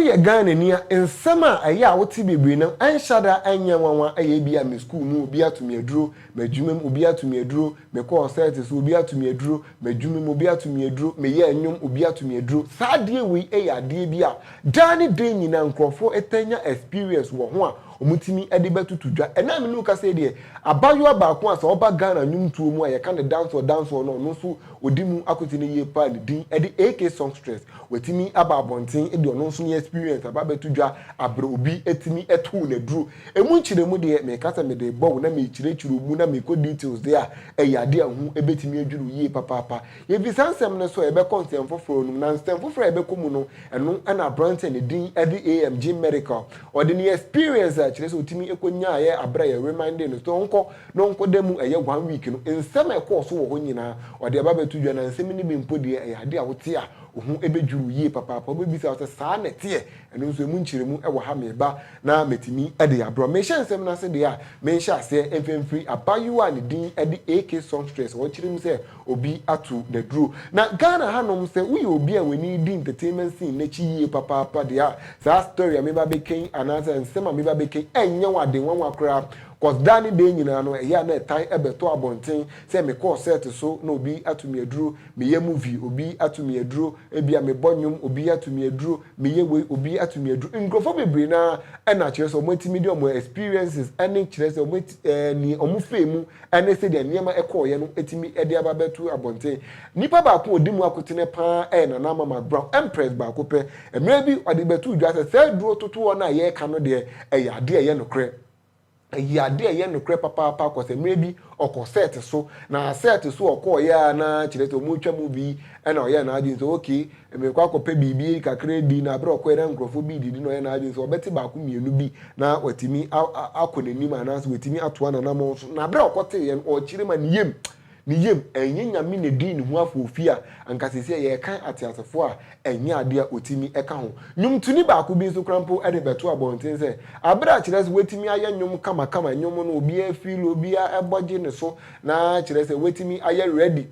Woyɛ Ghanani a, nsɛm a ɛyɛ a wote bebree no, ɛnhyɛ da nyɛ nwanwa. Ɛyɛ bi a me sukuu mu, obi ato me aduro, m'adwuma mu, obi ato me aduro, me kɔɔ sɛɛte so, obi ato me aduro, m'adwuma mu, obi ato me aduro, me yɛɛ nnwom, obi ato me aduro. Saa adeɛ wei yɛ adeɛ bi a daa ne da nyinaa nkorɔfoɔ taa nya experience wɔ ho a wɔtumi de bɛtoto dwa. Ɛnnɛ a me ne wo kasa yi deɛ, abaayewa baako a sɛ ɔba Ghana nnwomtoɔ mu a, yɛka no dancehall dancehall no a ɔno nso ɔdi mu akote no yie paa ne din de AK Songstress. Watumi aba abɔnten de ɔno nso ne experience aba abɛto dwa abrɛ obi atumi atow no aduro. Ɛmu nkyerɛmu deɛ, meka sɛ mede rebɔ wo na merekyerɛkyerɛ wo mu na merekɔ details deɛ a, ɛyɛ adeɛ a ɛho bɛtumi adwiri wo yie papaapa. Yɛfiri saa nsɛm no so a, yɛbɛkɔ nsɛm foforɔ no mu. Na nsɛm foforɔ a yɛbɛkɔ mu no, ɛno na aberanteɛ a ne din de AM Gene Medical, Ɔde ne experience a kyerɛ sɛ otumi kɔ nyaeɛ aberɛ a yɛ remindee no sɛ ɔnkɔ na ɔnkɔ da mu ɛyɛ one week no nsɛm a ɛkɔɔ so wɔ hɔ nyinaa ɔde aba bɛto dwa na nsɛm no bi mpo deɛ ɛyɛ adeɛ a wote a wo ho bɛdwiri wo yie papaapa wobɛbisa wo sɛ saa na ɛteɛ ɛno nso ɛmu nkyerɛmu wɔ ha meba na mɛtumi de abrɛ wo mehyɛ nsɛm no ase deɛ a menhyɛ aseɛ mfa mfiri abaayewa a ne din de AK Songstress a ɔkyerɛ mu sɛ obi ato n'aduro. Na Ghana ha nom sɛ woyɛ obi a w'ani redi entertainment scene no akyi yie papaapa deɛ a, saa story a meba abɛka yi anaasɛ nsɛm a meba abɛka yi ɛnyɛ wo ade nwanwa koraa cos daa ne daa nyinaa no ɛyɛ a na ɛtan ɛbɛtɔ abɔnten sɛ mekɔɔ set so na obi ato me aduro, meyɛ movie obi ato me aduro, ebia mebɔ nnwom obi ato me aduro, meyɛ wei obi ato me aduro. Nkurɔfoɔ bebree no ara na kyerɛ sɛ wɔatumi de wɔn experiences ne kyerɛ sɛ wɔn ɛɛ nea wɔfaa mu ne sɛdeɛ nneɛma kɔeɛ no tumi de aba bɛto abɔnten. Nnipa baako a ɔdi mu akotene pa ara yɛ Nana Mama Brown, Empress baako pɛ. Mmerɛ bi, ɔde bɛtoo dwa sɛ, saa aduro totoɔ no a yɛreka no deɛ, ɛyɛ adeɛ a ɛyɛ nokorɛ. Ɛyɛɛ adeɛ a ɛyɛ nokorɛ papaapa kɔ sɛ mmerɛ bi, ɔkɔ sɛɛte so. Na sɛɛte so a ɔkɔeɛ ara no ara kyerɛ sɛ wɔretwa movie na ɔyɛɛ n'adwene sɛ, okay, Merekɔ akɔpɛ biribi kakra adi, na bere a ɔkɔe na nkurɔfo bi redidi na ɔyɛ n'adwene sɛ ɔbɛte baako mmienu bi na watumi akɔ n'anim anaasɛ watumi atoa n'anammɔn so. Na bere a ɔkɔteeɛ no, ɔkyerɛ mu a, ne yam, ne yam, ɛnyɛ Nyame na edii ne ho afoofi a anka seesei yɛrekan ateasefo a ɛnyɛ ade a otumi ka ho. Nnwomtoni baako bi nso koraa mpo de bɛtoo abɔnten sɛ, bere a kyerɛ sɛ watumi ayɛ nnwom kamakama, nnwom no obiara feel, obiara bɔ gye ne so, na kyerɛ sɛ watumi ayɛ ready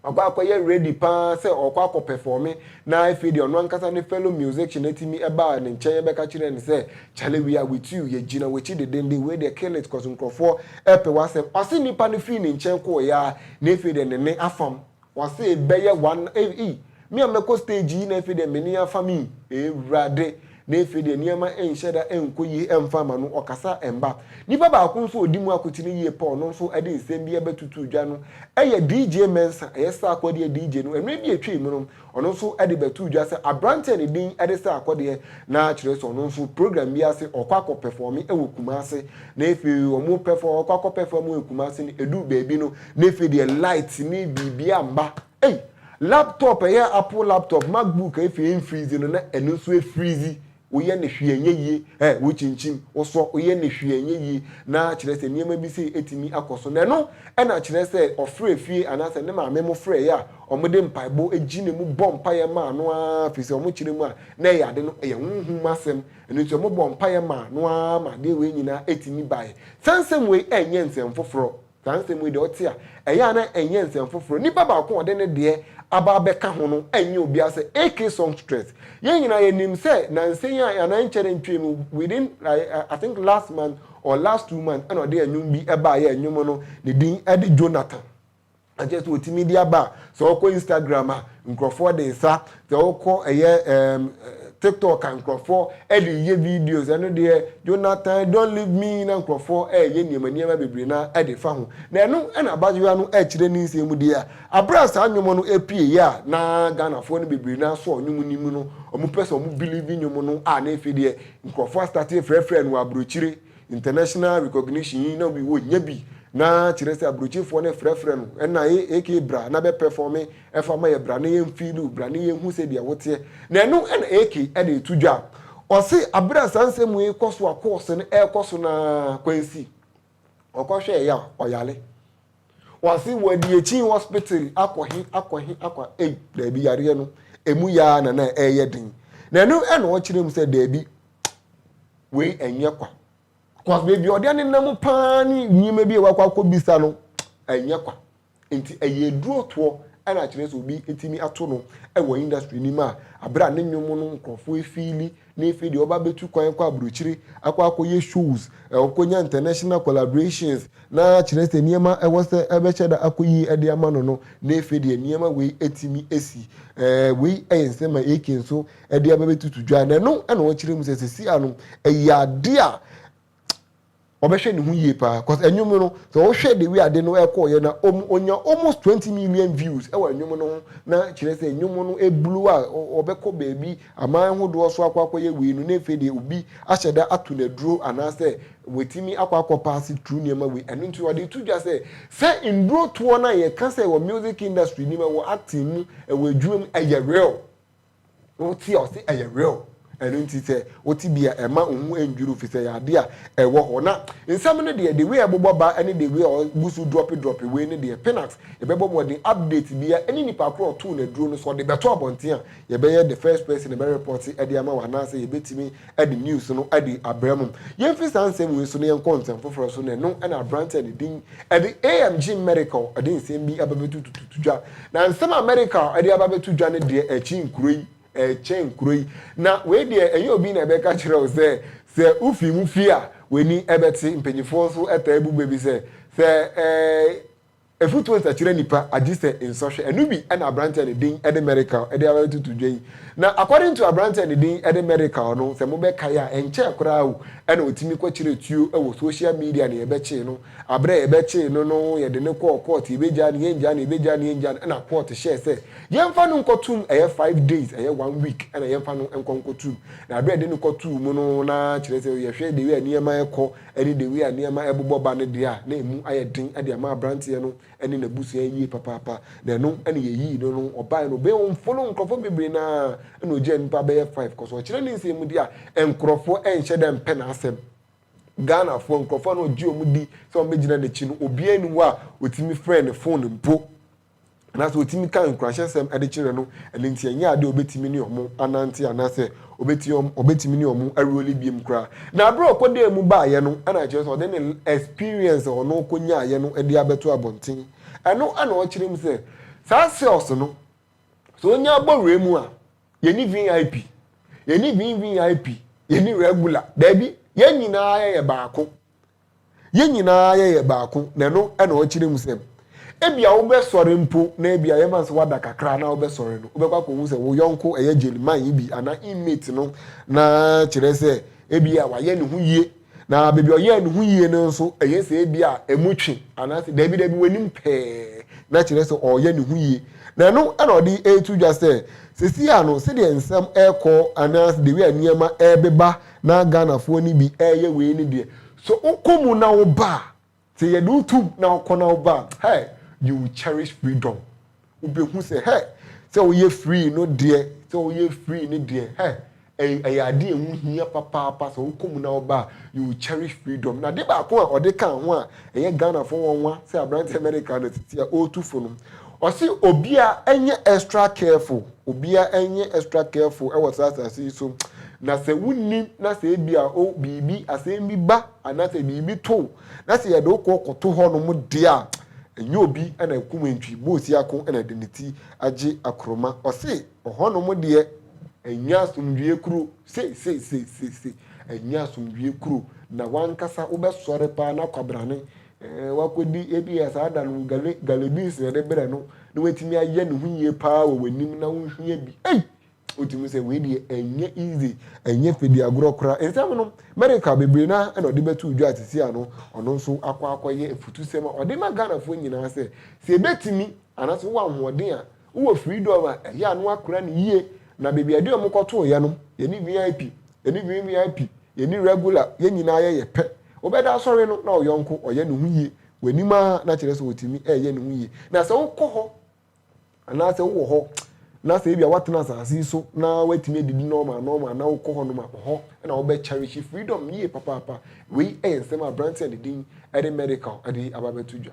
Ɔkɔ akɔyɛ ready paa sɛ ɔɔkɔ akɔ pɛfɔɔme na afei deɛ ɔno ankasa ne fellow musician atumi ɛbaa ne nkyɛn ɛbɛka kyerɛɛ no sɛ Charlie we are with you, yɛgyina w'akyi dedenden, wei deɛ kill it cos nkorɔfoɔ ɛɛpɛ w'asɛm. Ɔse nnipa no firi ne nkyɛn kɔɔeɛ ara na afei deɛ ne nne afam. Ɔse bɛyɛ one, ei! Me a mɛkɔ stage yi na afei deɛ mene afa me yi Awurade Na afei deɛ nneɛma nhyɛ da nkɔ yie ɛmfa ma no ɔkasa mma Nipa baako nso a ɔdi mu akotene yie pɛ ɔno nso ɛde nsɛm bi ɛbɛtutu dwa no ɛyɛ DJ Mensah ɛyɛ Sarkodie deɛ DJ no mmerɛ bi ɛtwa mu no ɔno nso ɛde bɛtoo dwa sɛ abranteɛ a ne din ɛde Sarkodie na kyerɛ sɛ ɔno nso program bi ase ɔkɔ akɔ pɛfɔme ɛwɔ Kumasi na afei ɔmo pɛfɔ ɔkɔ akɔ pɛfɔme wɔ Kumasi no ɛduu baabi no na afei deɛ light ne biribiara mma Ei laptop ɛyɛ apple laptop macbook a efi ɛnfrizi no na ɛno nso ɛfrizi woyɛ no hwee ɛnyɛ yie ɛ wokyinkyim wosɔ woyɛ no hwee ɛnyɛ yie na kyerɛ sɛ nneɛma bi sei ɛtumi akɔ so na ɛno ɛna kyerɛ sɛ ɔfrɛ fie anaasɛ ne maame mo frɛɛ a wɔn de mpaebɔ ɛgyina mu bɔ mpaeɛ maa no ara firi sɛ wɔn kyerɛ mu a na ɛyɛ ade no ɛyɛ honhom mu asɛm ɛno nti wɔn bɔ mpaeɛ maa no ara ma adeɛ wei nyinaa ɛtumi baeɛ saa nsɛm wei ɛnyɛ nsɛm foforɔ. Saa nsɛm yi deɛ ɔte a, ɛyɛ a na ɛnyɛ nsɛm foforɔ. Nipa baako a ɔde ne deɛ aba abɛka ho no nyɛ obiara sɛ AK Songstress. Yɛn nyinaa yɛnim sɛ nansa yi a anaa ɛnkyɛrɛ ntwam yi within I think last month or last two months ɛna ɔde ɛnwom bi baeɛ a ɛnwom no ne din de Jonathan. Ɛkyerɛ sɛ ɔtumi de aba a sɛ ɔkɔ Instagram a nkurɔfoɔ de nsa Sɛ wokɔ ɛyɛ ɛɛm tiktok a nkorɔfoɔ ɛde yɛ videos ɛno deɛ Jonathan don't leave me na nkorɔfoɔ ɛɛyɛ nneɛma nneɛma bebree na ɛde fa ho na ɛno ɛna abaayewa no ɛɛkyerɛ ne nsɛm mu deɛ a aberɛ a saa nnwom no ɛpueeɛ a na Ghanafoɔ no bebree no ara sɔ nnwom no mu no ɔmo pɛ sɛ ɔmo believe nnwom no a na ɛfei deɛ nkorɔfoɔ astate frɛfrɛ no abrokyire international recognition yi na ɔnnya bi na kyerɛ sɛ abrokyefoɔ no ɛfrɛfrɛ no ɛna ee aka bra na bɛ pɛfɔme Fa ma yɛ bra na yɛn feeli wo bra na yɛn hu sɛdeɛ wo teɛ na ɛno na AK na ɛtu dwa ɔse abere a saa nsɛm wei kɔ so a course no ɛkɔ so na Kwansi ɔkɔ hwɛɛ ya ɔyale ɔse wɔde akyi hospital akɔ he akɔ he akɔ ei daabi yareɛ no ɛmu yaa na na ɛyɛ den na ɛno ɛna ɔkyerɛ mu sɛ daabi wei ɛnyɛ kwa cause baabi ɔde ne nam paa ne nneɛma bi a wakɔ akɔ bisa no ɛnyɛ kwa. Enti ɛyɛ aduro toɔ na kyerɛ sɛ obi tumi ato no wɔ industry no mu a aberɛ a ne nnwom no nkorɔfoɔ ɛfiili na afei deɛ ɔba bɛtu kwan kɔ abrokyire akɔ akɔyɛ shows, ɔkɔnya international collaborations na kyerɛ sɛ nneɛma ɛwɔ sɛ ɛbɛhyɛ da akɔ yie de ama no no na afei deɛ nneɛma wei atumi asi. Wei yɛ nsɛm a AK nso de aba bɛtutu dwa na ɛno na ɔkyerɛ mu sɛ sesia no ɛyɛ adeɛ a ɔbɛhwɛ ne ho yie paa cause ɛnwom no sɛ ɔhwɛ de wi ade no ɛkɔ yɛ na ɔmu ɔnya almost twenty million views ɛwɔ ɛnwom no ho na kyerɛ sɛ ɛnwom no ɛblu a ɔbɛkɔ baabi aman hodoɔ so akɔ akɔ yɛ wei no na ɛfɛ deɛ obi ahyɛ da ato na duro anaasɛ wɔtumi akɔ akɔ paase tru nneɛma wei ɛno nti ɔde to dwa sɛ sɛ nduro toɔ no a yɛka sɛ ɛwɔ music industry nim ɛwɔ acting mu ɛwɔ adwuma mu ɛyɛ real. Wote a ɔse ɛyɛ real ɛno nti sɛ wote bi a ɛma wo ho ɛndwiriw fisɛ ɛyɛ adeɛ a ɛwɔ hɔ na nsɛm no deɛ the way ɛbobɔ ba ɛne the way a ɔguso drope drope wei no deɛ Pinax yɛbɛbɔ mmɔden update biaa ɛne nipa korɔ a ɔtoo no aduro no sɛ ɔde bɛto abɔnten a yɛbɛyɛ the first person ɛbɛ report de ama wo anaasɛ yɛbɛtumi de news no de abrɛ mo. Yɛmfi saa nsɛm wei so na yɛnkɔ nsɛm foforɔ so, na ɛno na aberanteɛ a ne din de AMG Medical de nsɛm bi aba bɛtutututu dwa. Na nsɛm a Medical de aba bɛto dwa no deɛ ɛkyi nkuro yi, ɛkyɛn nkuro yi. Na wei deɛ ɛnyɛ obi na ɛbɛka kyerɛ wo sɛ sɛ wofii mu fie a w'ani bɛte. Mpanimfoɔ nso taa bu bɛ bi sɛ sɛ ɛɛ. Afotuo nsakyera nipa agye sɛ nsɔhwɛ. Ɛno bi na aberanteɛ a ne din de Merical de aba bɛtoto dwa yi. Na according to aberanteɛ a ne din de Merical no, sɛ mobɛkae a, ɛnkyɛɛ koraa o, ɛna ɔtumi kɔkyerɛɛ tuo wɔ social media na yɛbɛkyee no. Aberɛ a yɛbɛkyee no no, yɛde no kɔɔ court, yɛbɛgyaa no, yɛngyaa no, yɛbɛgyaa no, yɛngyaa no, ɛna court hyɛɛ sɛ yɛmfa no nkɔ tum, ɛyɛ five days, ɛyɛ one week, ɛna yɛmfa no nkɔ nkɔ tum. Na aberɛ a yɛde no kɔ tuu mu no, na kyerɛ sɛ yɛhwɛ the way a nneɛma rekɔ, ne The Way a Nneɛma Ɛbobɔ Ba no deɛ a na emu ayɛ den de ama aberanteɛ no ne n'abusua yie papaapa, na ɛno na yɛyii no no. Ɔbaeɛ no, ɔbɛn ɔmfollow nkurɔfoɔ bebree no ara, ɛnna ɔgyaa nnipa bɛyɛ five kɔ so. Ɔkyerɛ ne nsɛmmudi a, nkurɔfoɔ nhyɛ da mpɛ n'asɛm. Ghanafoɔ, nkurɔfoɔ a na ɔgye wɔn di sɛ wɔbɛgyina n'akyi no, obiara nni hɔ a ɔtumi frɛɛ ne fon mpo. anaasɛ otumi ka nkuranhyɛsɛm de kyerɛ no, ɛno nti ɛnyɛ ade a obetumi ne wɔn anante anaasɛ obetumi wɔn obetumi ne wɔn awuroli biem koraa. Na abere a ɔkɔdaa mu baeɛ no na ɛkyerɛ sɛ ɔde ne experience a ɔno ɔkɔnyaaeɛ no de abɛto abɔnten. Ɛno na ɔkyerɛ mu sɛ saa cells no sɛ onya abɔ wura mu a yɛni VIP, yɛni VVIP, yɛni regular. Daabi, yɛn nyinaa yɛyɛ baako. Yɛn nyinaa yɛyɛ baako, na ɛno na ɔkyerɛ mu sɛ ebia wobɛsɔre mpo, na ebia yɛma no sɛ woada kakra na wobɛsɔre no, wobɛkɔ akɔhu sɛ wo yɔnko, ɛyɛ jail man yi bi anaa inmate no, na kyerɛ sɛ ebia wayɛ ne ho yie. Na baabi a ɔyɛɛ ne ho yie no nso, ɛyɛ sɛ ebia ɛmu twe, anaasɛ daabi daabi w'anim pɛɛ, na kyerɛ sɛ ɔreyɛ ne ho yie. Na ɛno na ɔde reto dwa sɛ, seesei a no, sɛdeɛ nsɛm rekɔ, anaasɛ the way a nneɛma rebeba Na Ghanafoɔ no bi reyɛ wei no deɛ, sɛ wokɔ mu na woba a, sɛ yɛde wo to mu na wokɔ na woba a, hey, you will cherish freedom. Wobɛhu sɛ, hey, sɛ woyɛ free no deɛ, sɛ woyɛ free no deɛ, hey, ɛy- ɛyɛ adeɛ a ɛho hia papaapa. Sɛ wokɔ mu na woba a, you will cherish freedom. Na ade baako a ɔde kaa ho a ɛyɛ Ghanafoɔ nwanwa sɛ aberanteɛ America no tete a ɔretu fo no, Ɔse obiaa nyɛ extra careful, obiaa nyɛ extra careful wɔ saa asase yi so, na sɛ wonnim na sɛ ebia o biribi, asɛm bi ba anaasɛ biribi to wo na sɛ yɛde wo kɔ kɔto hɔnom deɛ a, ɛnyɛ obi na akum antwi, boosia ko na ɛde ne ti agye akoroma. Ɔse ɔhɔnom deɛ ɛnyɛ asomdwoeɛ kuro, seiseiseiseisei, ɛnyɛ asomdwoeɛ kuro, na w'ankasa wobɛsɔre paa na kwabrane Woakɔdi ebia saa da no gale, gale beans na yɛde brɛ no, na watumi ayɛ ne ho yie paa wɔ w'anim na wonhia bi. Ei! Wotumi sɛ wei deɛ ɛnyɛ easy, ɛnyɛ fɛdi agorɔ koraa. Nsɛm no, America bebree no ara na ɔde bɛtoo dwa a seesei ano ɔno nso akɔ akɔyɛ afutusɛm a ɔde ma Ghanafoɔ nyinaa sɛ, sɛ ɛbɛtumi anaasɛ wowɔ ahoɔden a, Wowɔ Freedom a, ɛyɛ a na woakora no yie. Na baabi a yɛde wɔn kɔtooeɛ no, yɛne VIP, yɛne VVIP, yɛne Regular, yɛn nyinaa yɛyɛ pɛ. Wobɛda asɔre no na wo yɔnko ɔyɛ ne ho yie w'anim ara, na kyerɛ sɛ ɔtumi reyɛ ne ho yie. Na sɛ wokɔ hɔ anaasɛ wowɔ hɔ na sɛ ebia woatena asase yi so na woatumi adidi normal normal na wokɔ hɔnom a, hɔ na wobɛkyɛrehye Freedom yie papaapa. Wei yɛ nsɛm a aberanteɛ a ne din de Medical de aba abɛto dwa.